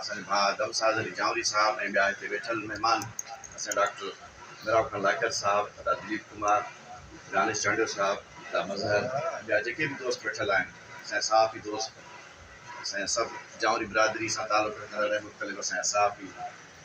اسان جي ڀاء دم ساز علي جانوري صاحب ۽ ٻيا هتي ويٺل مهمان اسان جا ڊاڪٽر ميراب خان لاکر صاحب، ادا دليپ ڪمار، دانش چانڊيو صاحب، ادا مظهر ۽ ٻيا جيڪي به دوست ويٺل آهن اسان جا صحافي دوست اسان جا سڀ جانوري برادري سان تعلق رکندڙ ۽ مختلف اسان جا صحافي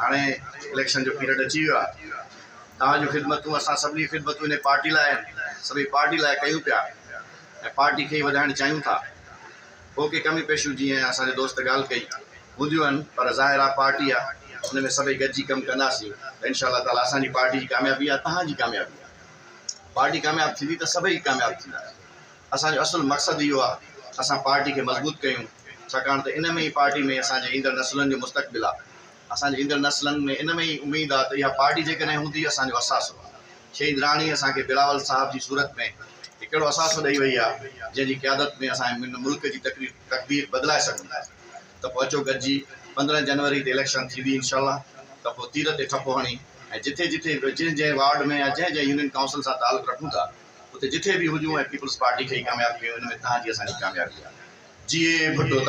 هاڻي اليڪشن جو پيريڊ اچي ويو آهي توهان جون خدمتون اسان سڀني جون خدمتون انهي پارٽي لاء آهن سڀئي پارٽي لاء ڪيون پيا ۽ پارٽي کي ئي وڌائڻ چاهيون ٿا ڪو ڪي ڪميون پيشيون جيئن اسان جي دوست ڳالهه ڪئي هونديون آهن پر ظاهر آهي پارٽي آهي ان ۾ سڀئي گڏجي ڪم ڪنداسين ته انشاء الله تعالي اسان جي پارٽي جي ڪاميابي آهي توهان جي ڪاميابي آهي پارٽي ڪامياب ٿيندي ته سڀئي ڪامياب ٿيندا اسان جو اصل مقصد اهو آ ته اسان پارٽي کي مضبوط ڪيون ڇاڪاڻ ته ان ۾ ئي پارٽي ۾ اسان جي ايندڙ نسلن جو مستقبل آ اسان جي ايندڙ نسلن ۾ ان ۾ ئي اميد آ ته اها پارٽي جيڪڏهن هوندي اسان جو اثاثو آ شهيدراڻي اسان کي بلاول صاحب جي صورت ۾ هڪ اهڙو اثاثو ڏئي وئي آ جنهن جي قيادت ۾ اسان هن ملڪ جي تقدير بدلائي سگهون ٿا ته پوء اچو گڏجي پندرهن جنوري تي اليڪشن ٿيندي انشاء الله ته پوء تير تي ٺپو هڻي ۽ جتي جتي جنهن جنهن وارڊ ۾ يا جنهن جنهن يونين ڪائونسل سان تعلق رکون ٿا اتي جتي به هجون ۽ پيپلز پارٽي کي ئي ڪامياب ڪيون ان ۾ تهان جي اسان جي ڪاميابي آهي جيئي ڀٽو تان.